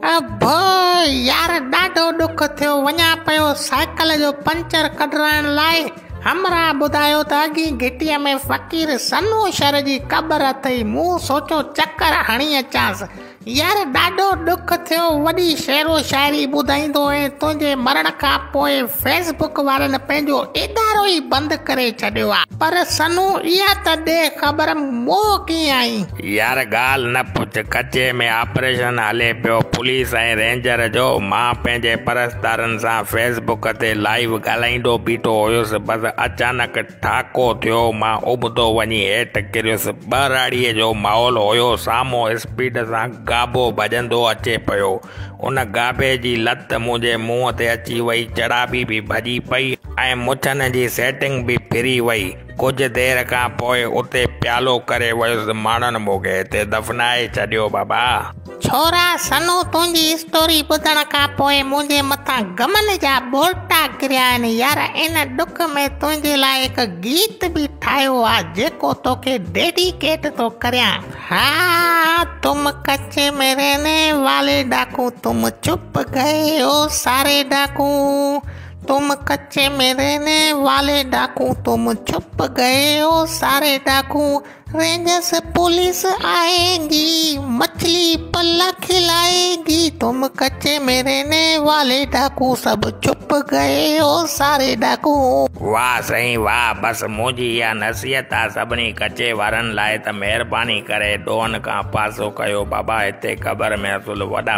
ابا يار ڏاڍو ڏک ٿيو وڃان پيو سائيڪل جو پنچر ڪڍرائڻ لاء همراهه ٻڌايو ته اڳئين گهٽيء ۾ فقير سنوشر جي قبر اٿئي مون سوچيو چڪر هڻي اچانس يار ڏاڍو ڏک ٿيو وڏي شعر و شاعري ٻڌائيندو هئين تنهنجي مرڻ کان پوء فيس بڪ وارن پنهنجو ادارو ئي بند ڪري ڇڏيو آ پر سنو اها ته ڏي خبر مئو ڪيئن آئين. يار ڳالهه نه پڇ، ڪچي ۾ آپريشن هلي پيو، پوليس ۽ رينجر جو، مان پنهنجي پرستارن سان فيس بڪ تي لائيو ڳالهائيندو بيٺو هيس، بس اچانڪ ٺاڪو ٿيو، مان ابتو وڃي هيٺ ڪريس، ٻهراڙيء جو ماحول هيو، سامهون اسپيڊ سان گابو ڀڄندو اچي پيو، ان گابي جي لت منهنجي منهن تي اچي وئي، چڙاڀي به ڀڄي پئي ۽ مڇن جي سيٽنگ به ڦري وئي. ڪجهه دير کان پوء اتي پيالو ڪري ويس ماڻهن موڳي هتي دفنائي ڇڏيو بابا. ڇورا سنو تنهنجي اسٽوري ٻڌڻ کان پوء منهنجي مٿان غمن جا ٻوڙٽا ڪريا آهن يار ان ڏک ۾ تنهنجي لاء هڪ گيت به ٺاهيو آ جيڪو توکي ڊيڊيڪيٽ ٿو ڪريان ها تم ڪچي ۾ رهني والي ڊاڪو تم چپ گئي او ساري ڊاڪو. تم ڪچي مي رهني والي ڊاڪو تم ڇپ گئي هو ساري ڊاڪو رينجرس پوليس آئي گي مڇلي پل کلائي گي تم ڪچي مي رهني والي ڊاڪو سڀ ڇپ گئي هو ساري ڊاڪو. واه سائين واه بس منهنجي اها نصيحت آ سڀني ڪچي وارن لاء ته مهرباني ڪري ڏوهن کان پاسو ڪيو بابا هتي قبر ۾ اصل وڏا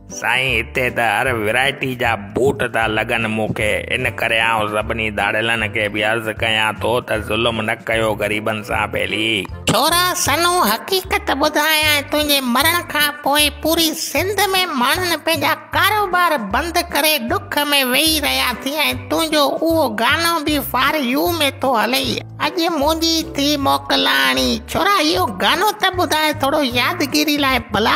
سائين هتي ته هر ورائٽي جا بوٽ ٿا لڳن مون کي ان ڪري آئون سڀني ڌاڙيلن کي به عرض ڪيان ٿو ته ظلم نه ڪيو غريبن سان ڀيلي. ڇورا سنو حقيقت ٻڌايانء تنهنجي مرڻ کان پوء پوري سنڌ ۾ ماڻهن پنهنجا ڪاروبار بند ڪري ڏک ۾ ويهي رهيا ٿي ۽ تنهنجو اهو گانو به فار يو ۾ ٿو هلئي اڄ منهنجي ٿي موڪلان ڇورا اهو گانو ته ٻڌاء ٿورو يادگيري لاء ڀلا.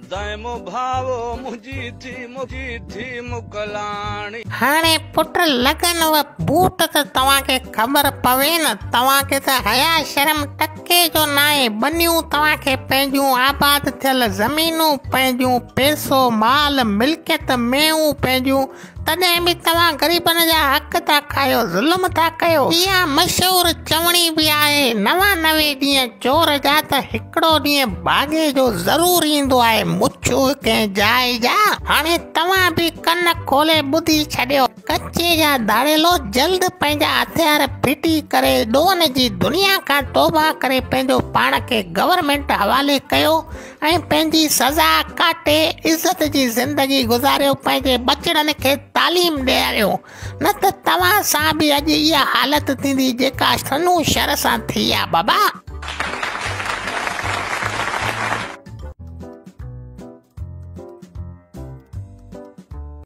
دائمو ڀائو منهنجي ٿي منهنجي ٿي مڪلاڻي. هاڻي پٽ لڳن و بوٽ ته توهان کي خبر پوي نه توهان کي ته حيا شرم ٽڪي جو ناهي ٻنيون توهان کي پنهنجون آباد ٿيل زمينون پنهنجون پئسو مال ملڪيت مينهون پنهنجون تڏهن به توهان غريبن جا حق ٿا کايو، ظلم ٿا ڪيو. اها مشهور چوڻي به آهي، نوانوي ڏينهن چور جا ته هڪڙو ڏينهن ڀاڳي جو ضرور ايندو آهي، مڇو ڪنهن جاء جا. هاڻي توهان به ڪن کولي ٻڌي ڇڏيو. ڪچي جا ڌاڙيلو جلد پنهنجا هٿيار ڦٽي ڪري ڏوهن جي دنيا کان توبه ڪري پنهنجو پاڻ کي گورنمينٽ حوالي ڪيو. ۽ پنهنجي سزا ڪاٽي عزت جي زندگي گذاريو پنهنجي ٻچڙن کي تعليم ڏياريو نه ته توهان سان به اڄ اها حالت ٿيندي جيڪا سنو شھر سان ٿي آ بابا.